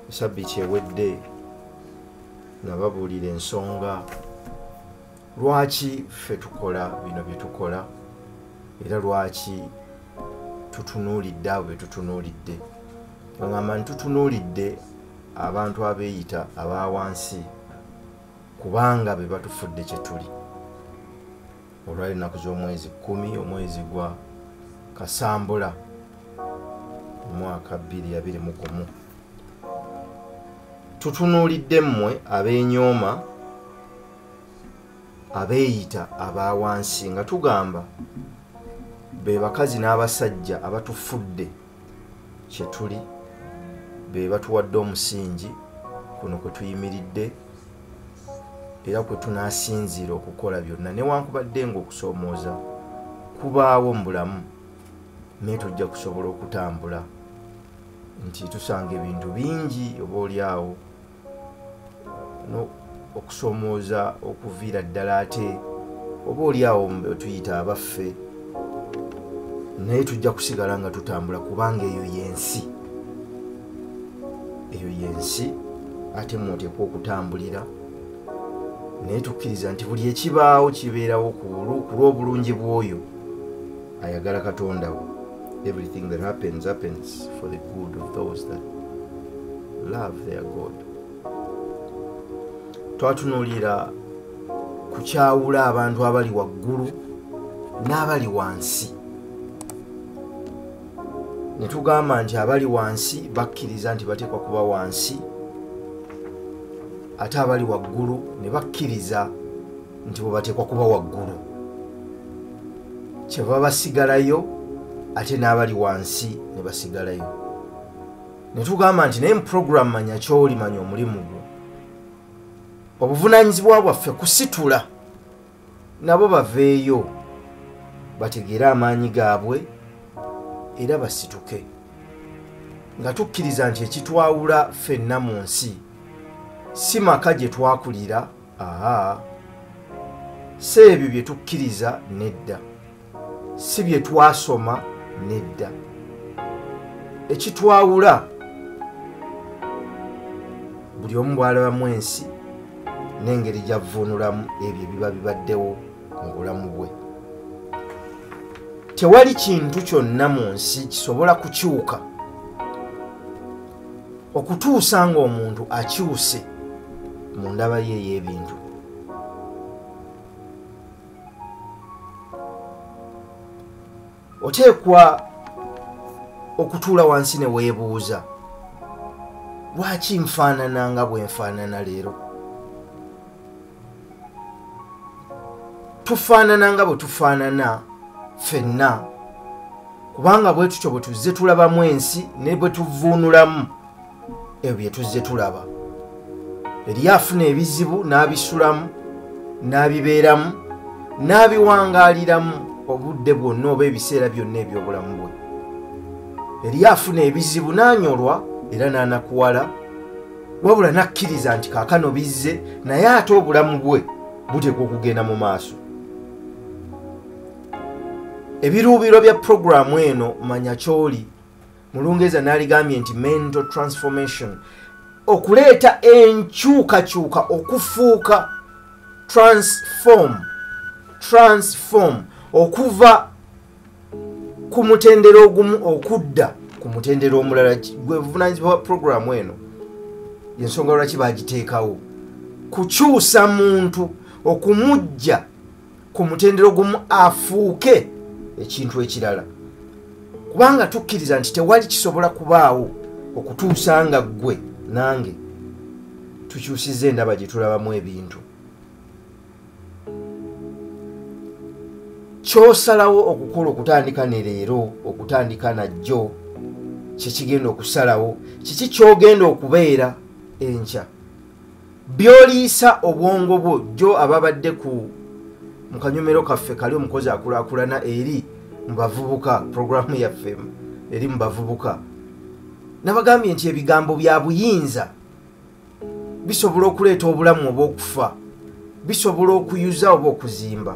sabiti ewedde nababuulira ensonga lwaki ffe tukola bino byetukola era lwaki tutunuulidde abo betutunuulidde ogamba nti tutunuulidde abantu abeeyita abawansi kubanga be batufudde kye tuli olwali ennaku z'omwezi kkumi omwezi gwa kasambula omwaka bbiri abiri mu gumu tutunuulidde mmwe ab'enyooma abeeyita aba wansi nga tugamba be bakazi n'abasajja abatufudde kyetuli be batuwadde omusingi kuno kwe tuyimiridde era kwe tunasinziira okukola byonna newankubadde nga okusoomooza kubaawo mu bulamu naye tujja kusobola okutambula nti tusanga ebintu bingi oba oli awo okusomooza okuviira ddala ate oba oli awo tuyita abaffe naye tujja kusigala nga tutambula kubanga eyo yensi eyo yensi ate mwoteekwa okutambulira naye tukkiriza nti buli ekibaawo kibeerawo ku lw'obulungi bw'oyo ayagala katonda wo everything that happens happens for the good of those that love their god twatunuulira kukyawula abantu abali waggulu n'abali wansi ne tugamba nti abali wansi bakkiriza nti bateekwa kuba wansi ate abali waggulu ne bakkiriza nti bwebateekwa kuba waggulu kyeva basigalayo ate n'abali wansi ne basigalayo ne tugamba nti naye muprogramu manya kyoli manya omulimu gwo obuvunaanyizibwa bwaffe kusitula nabo baveeyo bategeere amaanyi gaabwe era basituke nga tukkiriza nti ekitwawula ffenna mu nsi si maka gye twakulira aa si ebyo bye tukkiriza nedda si bye twasoma nedda ekitwawula buli omu bwalabamu ensi n'engeri gyavvuunulamu ebyo ebiba bibaddewo mu bulamu bwe tewali kintu kyonna mu nsi kisobola kukyuka okutuusa ng'omuntu akyuse mu ndaba ye ey'ebintu oteekwa okutuula wansi ne weebuuza lwaki nfaanana nga bwe nfaanana leero tufaanana nga bwe tufaanana ffenna kubanga bwe tutyo bwe tuzze tulabamu ensi ne bwe tuvuunulamu ebyo bye tuzze tulaba eriyo afuna ebizibu n'abisulamu n'abibeeramu n'abiwangaaliramu obudde bwonna oba ebiseera byonna eby'obulamu bwe eriyo afuna ebizibu n'anyolwa era n'anakuwala wabula n'akkiriza nti kaakano bizze naye ate obulamu bwe buteekwa okugenda mu maaso ebiruubiro bya puroguramu eno manya kyoli mu lungereza naligambye nti mental transformation okuleeta enkyukakyuka okufuuka transform transform okuva ku mutendera ogumu okudda ku mutendera omulala gwebuvunanyizibwa bwa puroguramu eno yensonga lwaki bagiteekawo kukyusa muntu okumujja ku mutendera ogumu afuuke ekintu ekirala kubanga tukkiriza nti tewali kisobola kubaawo okutuusa nga ggwe nange tukyusiza endaba gye tulabamu ebintu kyosalawo okukola okutandika ne leero okutandika najjo kyekigenda okusalawo kiki kyogenda okubeera enkya byoliisa obwongo bwo jjo ababadde ku mu kanyomero kaffe kali omukozi akulakulana eri mu bavubuka programu yaffe eri mu bavubuka nabagambye nti ebigambo bya buyinza bisobola okuleeta obulamu oba okufa bisobola okuyuza oba okuzimba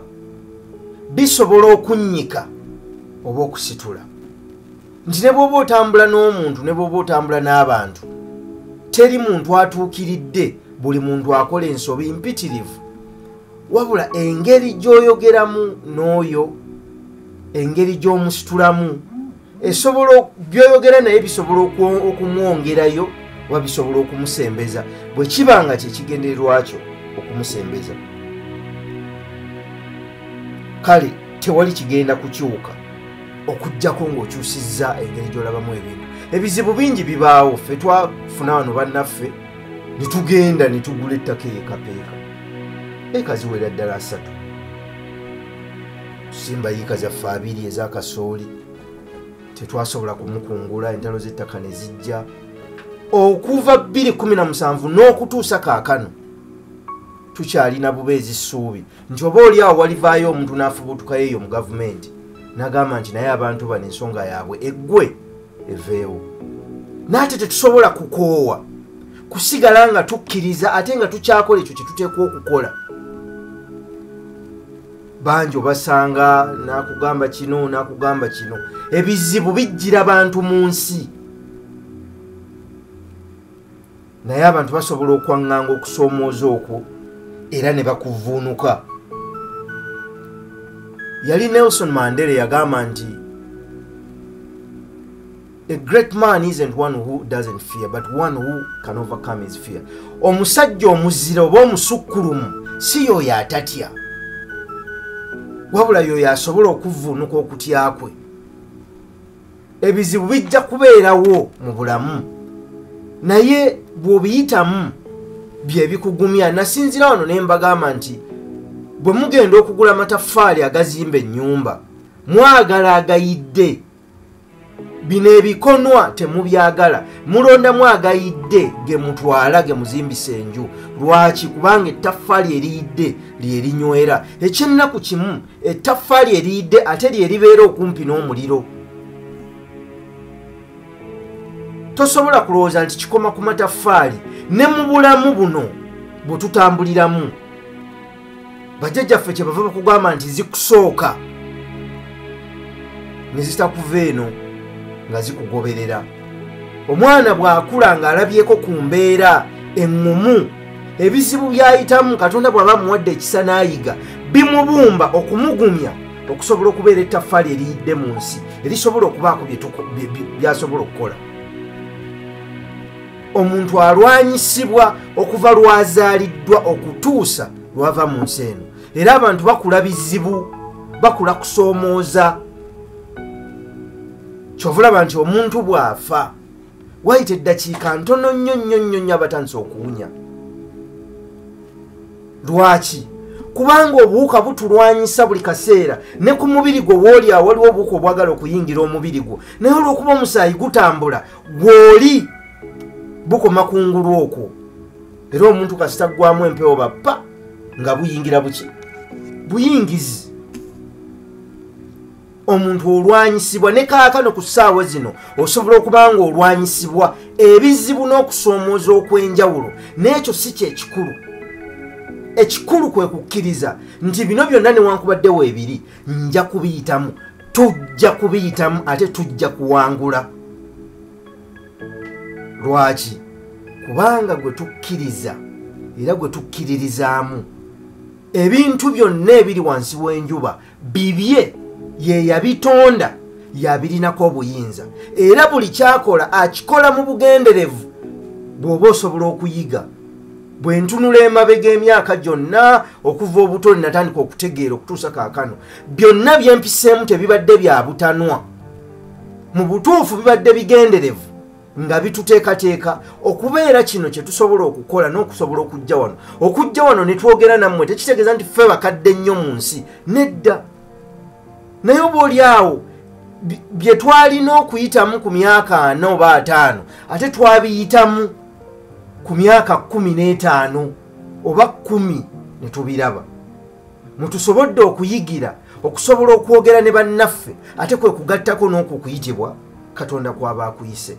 bisobola okunnyika oba okusitula nti ne bwoba otambula n'omuntu ne bwoba otambula n'abantu teri muntu atuukiridde buli muntu akola ensobi mpitirivu wabula engeri gy'oyogeramu n'oyo engeri gy'omusitulamu esobola byoyogera naye bisobola okumwongerayo oba bisobola okumusembeza bwe kiba nga kyekigendererwakyo okumusembeza kale tewali kigenda kukyuka okujjako ng'okyusizza engeri gy'olabamu ebintu ebizibu bingi bibaawo ffe twafuna wano bannaffe ne tugenda ne tugula ettaka eyekapeeka ekaziwera ddala asatu tusimba yiika zaffe abiri eza kasooli tetwasobola kumukungula entalo z'ettaka ne zijja okuva 217 n'okutuusa kaakano tukyalina buba ezissuubi nti oba oli awo walivaayo omuntu n'afubutukayo eyo mu gavumenti n'agamba nti naye abantu bano ensonga yaabwe eggwe eveewo naate tetusobola kukoowa kusigala nga tukkiriza ate nga tukyakola ekyo kyetuteekwa okukola bangi obasanga nakugamba kino nakugamba kino ebizibu bijjira bantu mu nsi naye abantu basobola okwaŋŋanga okusoomooza okwo era ne bakuvuunuka yali nelson mandela yagamba nti a great man isn't one who doesn't fear but one who can overcome his fear omusajja omuzira oba omusukkulumu si yooyo atatya wabula yooyo asobola okuvuunuka okutya kwe ebizibu bijja kubeerawo mu bulamu naye bw'obiyitamu bye bikugumya nasinzira wano ne mbagamba nti bwe mugenda okugula amataffaali agazimba ennyumba mwagala agayidde bino ebikonwa temubyagala mulondamu agayidde ge mutwala ge muzimbisa enju lwaki kubanga ettaffaali eriyidde lyerinywera ekyennaku kimu ettaffaali eriyidde ate lye libeera okumpi n'omuliro tosobola kulowooza nti kikoma ku mataffaali ne mu bulamu buno bwe tutambuliramu bajjajjaffe kye bava bakugamba nti zikusooka ne zitakuva eno nga zikugoberera omwana bw'akula ng'alabyeko ku mbeera eŋŋumu ebizibu by'ayitamu katonda bw'aba amuwadde ekisa n'ayiga bimubumba okumugumya okusobola okubeera ettaffaali eriyidde mu nsi erisobola okubaako byasobola okukola omuntu alwanyisibwa okuva lwazaaliddwa okutuusa lwava mu nsi eno era abantu bakula bizibu bakula kusoomooza kyovaolaba nti omuntu bw'afa wayita eddakiika ntono nnyo nnyo nnyo nnyo abatandise okuwunya lwaki kubanga obuwuka butulwanyisa buli kaseera ne ku mubiri gwo wooli awo waliwo obuwuka obwagala okuyingira omubiri gwo naye olwokuba omusaayi gutambula gwoli bukoma kungulu okwo era omuntu kasita ggwamu empewo bappa nga buyingira buki buyingizi omuntu olwanyisibwa ne kaakano ku ssaawa zino osobola okuba nga olwanyisibwa ebizibu n'okusoomooza okw'enjawulo n'ekyo si kyekikulu ekikulu kwe kukkiriza nti bino byonna newankubadde weebiri nja kubiyitamu tujja kubiyitamu ate tujja kuwangula lwaki kubanga gwe tukkiriza era gwe tukkiririzaamu ebintu byonna ebiri wansi w'enjuba bibye ye yabitonda yabirinako obuyinza era buli kyakola akikola mu bugenderevu bw'oba osobola okuyiga bwe ntunula emabega emyaka gyonna okuva obuto linatandika okutegeera okutuusa kaakano byonna byempiseemu tebibadde bya butanwa mu butuufu bibadde bigenderevu nga bituteekateeka okubeera kino kye tusobola okukola n'okusobola okujja wano okujja wano ne twogera nammwe tekitegeeza nti ffe bakadde nnyo mu nsi nedda naye oba oli awo bye twalina okuyitamu ku myaka ana oba ataano ate twabiyitamu ku myaka kumi n'etaano oba kumi ne tubiraba mutusobodde okuyigira okusobola okwogera ne bannaffe ate kwe kugattako n'okwo okuyitibwa katonda kwaba akuyise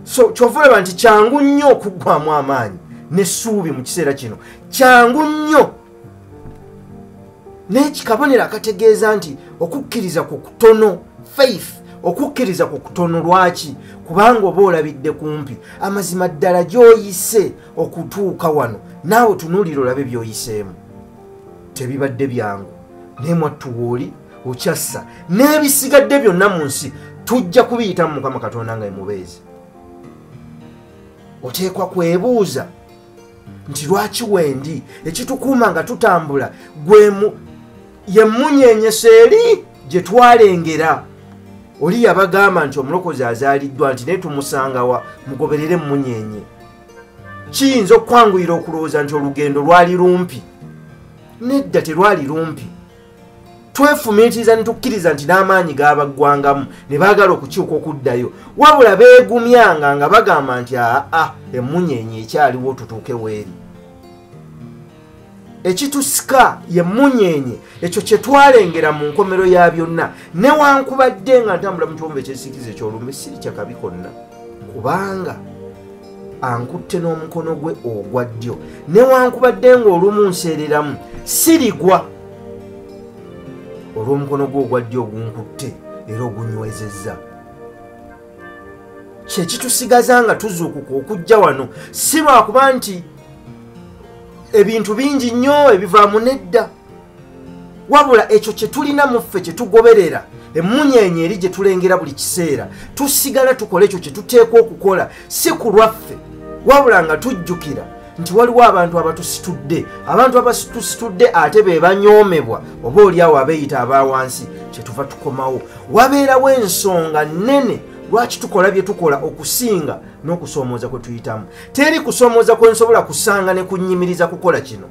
so kyova olaba nti kyangu nnyo okuggwamu amaanyi n'essuubi mu kiseera kino kyangu nnyo naye kikabonero akategeeza nti okukkiriza ku kutono faith okukkiriza ku kutono lwaki kubanga oba olabidde kumpi amazima ddala gy'oyise okutuuka wano naawe tunuulira olabe byoyiseemu tebibadde byangu naye mwattuwooli okyassa n'ebisigadde byonna mu nsi tujja kubiyitamu mukama katonda nga emubeezi oteekwa kwebuuza nti lwaki wendi ekitukuuma nga tutambula gwemu yemunyenyesa eri gye twalengera oli yabagamba nti omulokozi azaaliddwa nti naye tumusangawa mugoberere emunyenye kiyinza okukwanguyira okulowooza nti olugendo lwali lumpi nedda terwali lumpi twefumiitiriza netukkiriza nti n'amaanyi gaabaggwangamu ne baagala okukyuka okuddayo wabula beegumyanga nga bagamba nti aa emmunyeenye ekyaliwo tutuuke weeri ekitusika ye munyenye ekyo kyetwalengera mu nkomero ya byonna newankubadde nga ntambula mu kiwombo ekyesikiza ekyolumbe siri kyakabi konna kubanga ankutte n'omukono gwe ogwa ddyo newankubadde ngaolumu nseereramu sirigwa olw'omukono gwe ogwa ddyo ogunkutte era ogunywezezza kyekitusigaza nga tuzuukuka okujja wano si lwakuba nti ebintu bingi nnyo ebivaamu nedda wabula ekyo kye tulina mu ffe kye tugoberera emmunyeenye eri gye tulengera buli kiseera tusigala tukola ekyo kye tuteekwa okukola si ku lwaffe wabula nga tujjukira nti waliwo abantu abatusitudde abantu abatusitudde ate be banyoomebwa oba oliawo abeeyita aba wansi kye tuva tukomawo wabeerawo ensonga nnene lwaki tukola bye tukola okusinga n'okusoomooza kwe tuyitamu teri kusoomooza kwe nsobola kusanga ne kunnyimiriza kukola kino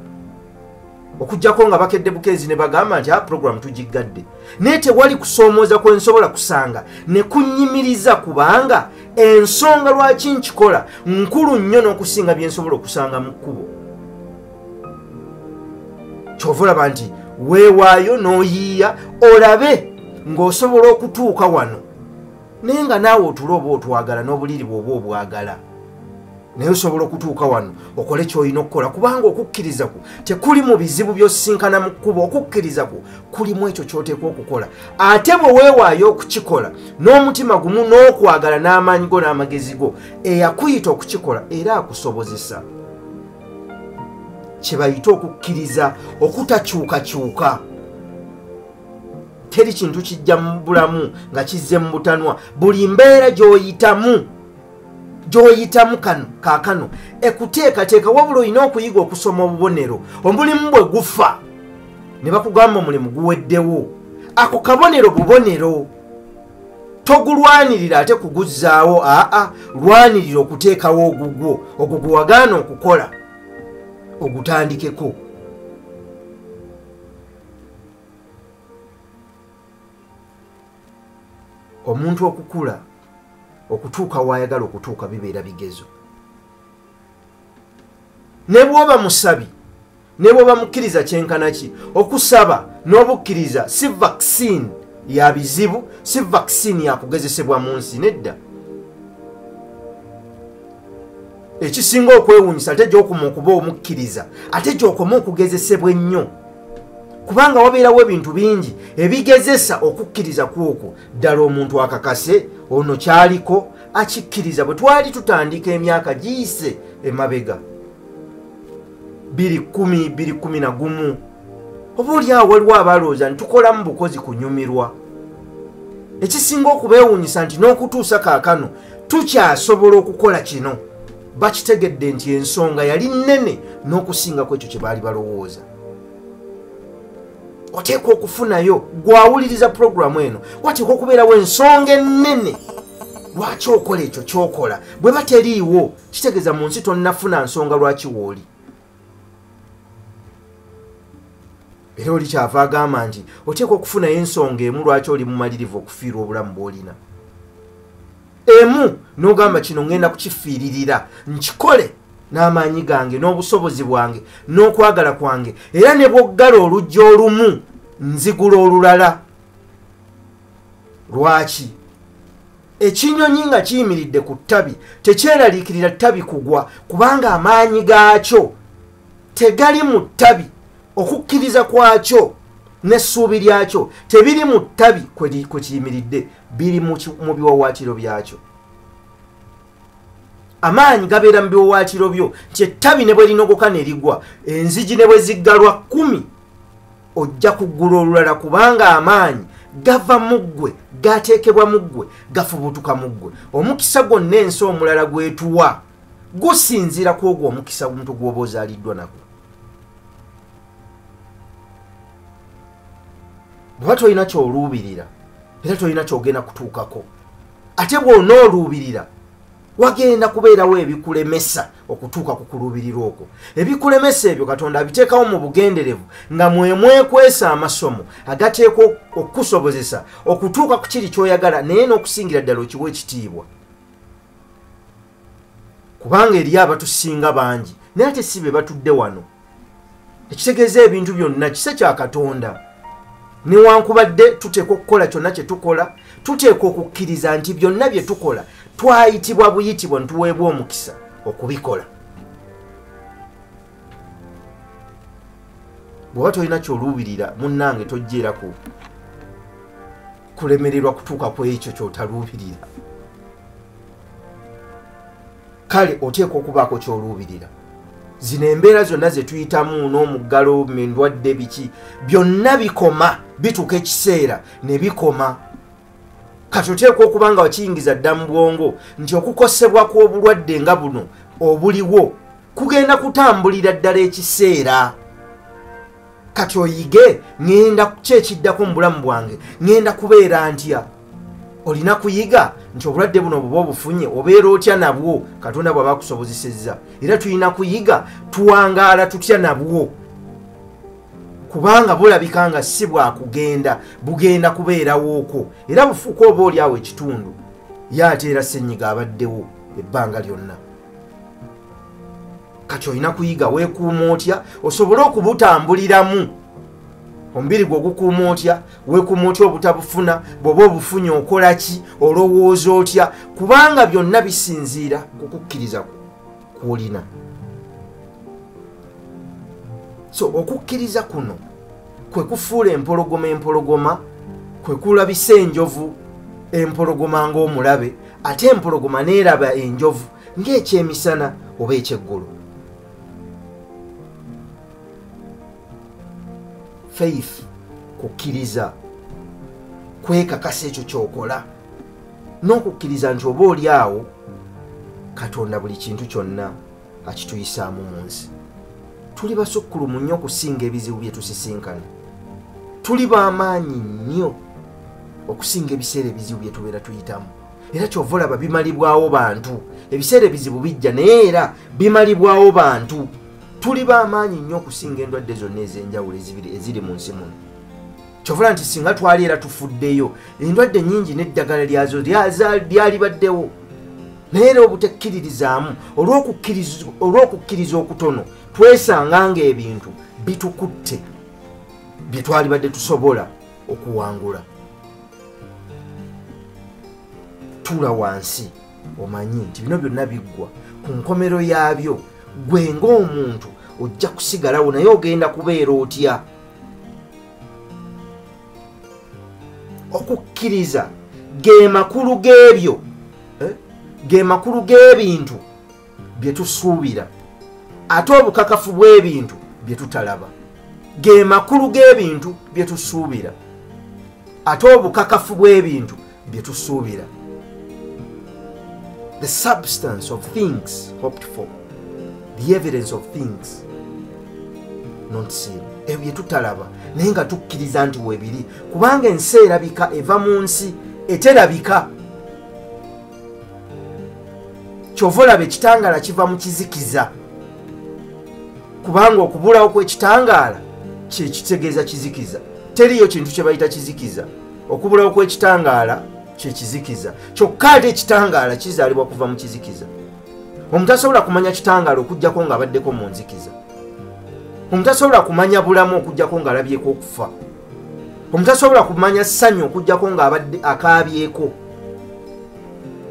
okujjako nga bakedde bukeezi ne bagamba nti a ah, puroguramu tugiggadde naye tewali kusoomooza kwe nsobola kusanga ne kunnyimiriza kubanga ensonga lwaki nkikola nkulu nnyo n'okusinga bye nsobola okusanga mu kkubo kyova olaba nti weewaayo n'oyiiya olabe ng'osobola okutuuka wano naye nga naawe otula oba otwagala n'obuliri bwoba obwagala naye osobola okutuuka wano okole kyolina okukola kubanga okukkiriza ku tekuli mu bizibu byosisinkana mu kkuba okukkiriza ku kulimu ekyo kyoteekwa okukola ate bwe weewaayo okukikola n'omutima gumu n'okwagala n'amaanyi go n'amagezi go eyakuyita okukikola era akusobozesa kye bayita okukkiriza okutakyukakyuka teri kintu kijja mu bulamu nga kizze mu butanwa buli mbeera gy'oyitamu gy'oyitamu kano kaakano ekuteekateeka wabula olina okuyiga okusoma obubonero omulimu bwe gufa ne bakugamba omulimu guweddewo ako kabonero bubonero togulwanirira ate kuguzzaawo aa lwanirira okuteekawo ogugwo ogwo gwe wagaana okukola ogutandikeko omuntu okukula okutuuka waayagala okutuuka bibeera bigezo ne bwoba musabi ne bwoba mukkiriza kyenkana ki okusaba n'obukkiriza si vaccine ya bizibu si vaccine yakugezesebwa mu nsi nedda ekisinga okwewunyisa ate gyokuma okuba omukkiriza ate gyokoma okugezesebwa ennyo kubanga wabeerawo ebintu bingi ebigezesa okukkiriza kwokwo ddala omuntu akakase ono kyaliko akikkiriza bwe twali tutandika emyaka giyise emabega biri kumi biri kumi na gumu oba olyawo waliwo abalowooza nti tukolamu bukozi kunyumirwa ekisinga okubeewuunyisa nti n'okutuusa kaakano tukyasobola okukola kino bakitegedde nti ensonga yali nnene n'okusingako ekyo kye baali balowooza oteekwa okufunayo gwawuliriza pulogulaamu eno wateekwa okubeerawo ensonga ennene lwaki okola ekyo kyokola bwe bateriiwo kitegeeza mu nsi tonnafuna nsonga lwaki wooli era oli kyava agamba nti oteekwa okufunayo ensonga emu lwaki oli mumalirivu okufiirwa obulamu bwolina emu nogamba kino ngenda kukifiiririra nkikole n'amaanyi gange n'obusobozi bwange n'okwagala kwange era ne bwoggala oluggi olumu nzigula olulala lwaki ekinyonyi nga kiyimiridde ku ttabi tekyeraliikirira ttabi kugwa kubanga amaanyi gaakyo tegali mu ttabi okukkiriza kwakyo n'essuubi lyakyo tebiri mu ttabi kwe kiyimiridde biri mu biwawaatiro byakyo amaanyi gabeera mu biwawaatiro byo nti ettabi ne bwe linogoka ne ligwa enzigi ne bwe ziggalwa kkumi ojja kuggula olulala kubanga amaanyi gava mu ggwe gateekebwa mu ggwe gafubutuka mu ggwe omukisa gwonna ensi omulala gwetuwa gusinziira ku ogwo omukisa omuntu gwoba ozaaliddwa nagwo bweba tolina kyoluubirira era tolina kyogenda kutuukako ate bwona oluubirira wagenda kubeerawo ebikulemesa okutuuka ku kuluubirirwa okwo ebikulemesa ebyo katonda abiteekawo mu bugenderevu nga mwemwekwesa amasomo agateekwa okukusobozesa okutuuka ku kiri kyoyagala naye n'okusingira ddala okiwa ekitiibwa kubanga eriyo abatusinga bangi naye ate si be batudde wano ekitegeeza ebintu byonna kisa kya katonda newankubadde tuteekwa okukola kyonna kye tukola tuteekwa okukkiriza nti byonna bye tukola twayitibwa buyitibwa nituweebwa omukisa okubikola bweoba tolina kyoluubirira munnange tojjeeraku kulemererwa kutuuka ku ekyo kyotaluubirira kale oteekwa okubaako kyoluubirira zino embeera zonna ze tuyitamu n'omuggalo endwadde biki byonna bikoma bituuka ekiseera ne bikoma kati oteekwa okuba nga wakiyingiza dda mu bwongo nti okukosebwa kw'obulwadde nga buno obuliwo kugenda kutambulira ddala ekiseera kati oyige ŋenda kyekiddako mu bulamu bwange ŋenda kubeera ntya olina kuyiga nti obulwadde buno buba obufunye obeera otya nabwo katonda bwaba akusobozesezza era tulina kuyiga tuwangaala tutya nabwo kubanga bulabika nga si bwakugenda bugenda kubeerawooko era bufuuka oba oli awo ekitundu ye ateera ssenyiga abaddewo ebbanga lyonna kati olina kuyiga weekuuma otya osobole okubutambuliramu omubiri gwe ogukuuma otya weekuuma otya obutabufuna bw'oba obufunye okola ki olowooza otya kubanga byonna bisinziira ku kukkiriza kwolina so okukkiriza kuno kwe kufuula empologoma empologoma kwe kulabisa enjovu empologoma ng'omulabe ate empologoma neeraba enjovu ng'ekyemisana oba ekyeggulu faith kukkiriza kwekakasa ekyo kyokola n'okukkiriza nti oba oli awo katonda buli kintu kyonna akituyisaamu mu nsi tuli basukkulumu nnyo okusinga ebizibu bye tusisinkana tuli b'amaanyi nnyo okusinga ebiseera ebizibu bye tubeera tuyitamu era kyova olaba bimalibwawo bantu ebiseera ebizibu bijja naye era bimalibwawo bantu tuli bamaanyi nnyo okusinga endwadde zonna ez'enjawulo eziri mu nsi muno kyovola nti singa twali era tufuddeyo endwadde nyingi n'eddagala lyazo lyalibaddewo naye era obutekkiririzaamu olw'okukkiriza okutono twesanga ng'ebintu bitukutte bye twalibadde tusobola okuwangula tuula wansi omanyi nti bino byonna biggwa ku nkomero yaabyo gwe ngaomuntu ojja kusigalawo naye ogenda kubeera otya okukkiriza ge makulu g'ebyo eh, ge makulu g'ebintu bye tusuubira ate obukakafu bw'ebintu bye tutalaba ge makulu g'ebintu bye tusuubira ate obukakafu bw'ebintu bye tusuubira the substance of things hoped for the evidence of things not seen ebyo bye tutalaba naye nga tukkiriza nti webiri kubanga ensi erabika eva mu nsi eterabika kyova olaba ekitangaala kiva mu kizikiza kubanga okubulawo kwekitangaala kyekitegeeza kizikiza teriyo kintu kyebayita kizikiza okubulawo kwekitangaala kyekizikiza kyokka ate ekitangaala kizaalibwa kuva mu kizikiza omuntu asobola kumanya kitangaala okugjako ngaabaddeko mu nzikiza omuntu asobola kumanya bulamu okugjako ngaalabyeko okufa omuntu asobola kumanya ssanyu okujjako ng'abadde akaabyeko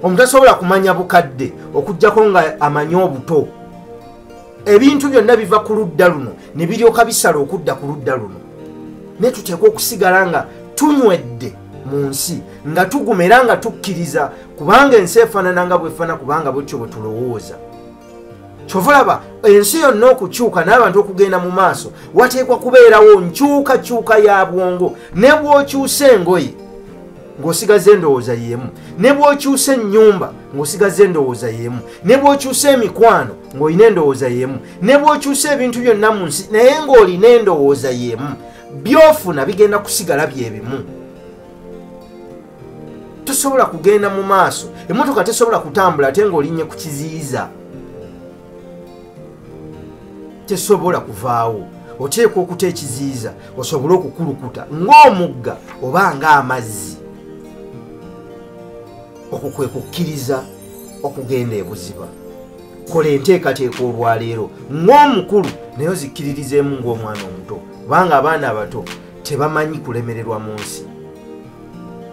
omuntu asobola kumanya bukadde okujjako nga amanyi obuto ebintu byonna biva ku ludda luno ne biryoka bisala okudda ku ludda luno naye tuteekwa okusigala nga tunywedde mu nsi nga tuguma era nga tukkiriza kubanga ensi efaanana nga bwefaana kubanga bwetyo bwe tulowooza kyova olaba ensi yonna okukyuka n'abantu okugenda mu maaso wateekwa kubeerawo nkyukakyuka ya bwongo ne bw'okyusa engoye ng'osigaza endowooza y'emu ne bw'okyusa ennyumba ng'osigaza endowooza y'emu ne bw'okyusa emikwano ng'olina endowooza y'emu ne bw'okyusa ebintu byonna mu nsi naye ng'olina endowooza y'emu byofuna bigenda kusigala bye bimu tosobola kugenda mu maaso emotoka tesobola kutambula ate ngaolinye ku kiziyiza tesobola kuvaawo oteekwa okuta ekiziyiza osobole okukulukuta ng'omugga oba ng'amazzi okwo kwe kukkiriza okugenda ebuziba kola enteekateeka olwaleero ng'omukulu naye ozikkiririzeemu ng'omwana omuto kubanga abaana abato tebamanyi kulemererwa mu nsi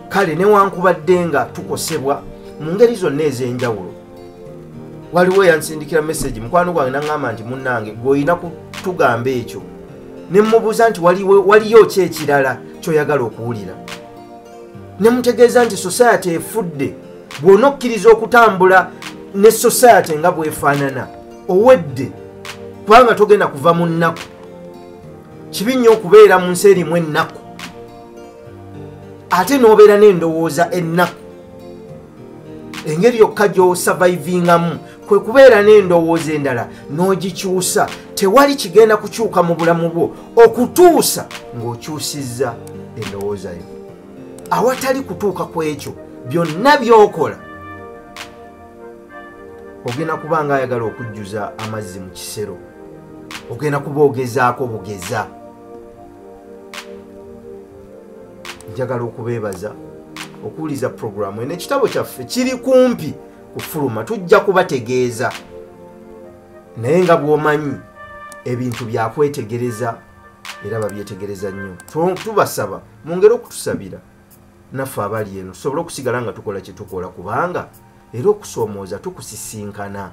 kale newankubadde nga tukosebwa mu ngeri zonna ez'enjawulo waliwo eyansindikira mesagi mukwano gwange naŋamba nti munnange gweolina kutugamba ekyo ne mmubuuza nti waliyo ki ekirala kyoyagala okuwulira ne mutegeeza nti sosayati efudde bw'ona okkiriza okutambula ne sosayati nga bwefaanana owedde kubanga togenda kuva mu nnaku kibi nnyo okubeera mu nsi erimu ennaku ate n'obeera n'endowooza ennaku engeri yokka gy'osavaivingamu kwe kubeera n'endowooza endala n'ogikyusa tewali kigenda kukyuka mu bulamu bwo okutuusa ng'okyusizza endowooza yo awatali kutuuka ku ekyo byonna by'okola ogenda kuba nga ayagala okujjuza amazzi mu kisero ogenda kuba ogezaako bugeza njagala okubeebaza okuwuliza puroguramu eno ekitabo kyaffe kiri kumpi kufuluma tujja kubategeeza naye nga bwomanyi ebintu byakwetegereza era babyetegereza nnyo tubasaba mungere okutusabira naffe abali eno tusobole okusigala nga tukola kyetukola kubanga era okusomooza tukusisinkana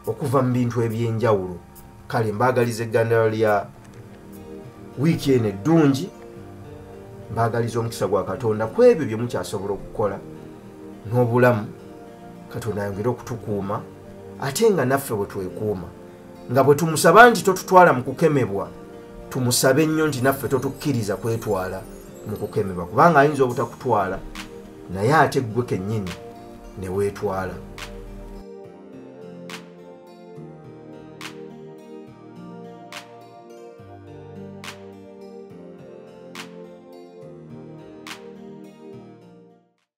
okuva mu bintu ebyenjawulo kale mbaagaliza eggandala lya wiiki eno eddungi mbaagaliza omukisa gwa katonda ku ebyo bye mukyasobola okukola n'obulamu katonda ayongere okutukuuma ate nga naffe bwe twekuuma nga bwe tumusaba nti totutwala mu kukemebwa tumusabe nnyo nti naffe totukkiriza kwetwala mu kukemebwa kubanga ayinza obutakutwala naye ate ggwe kennyini ne weetwala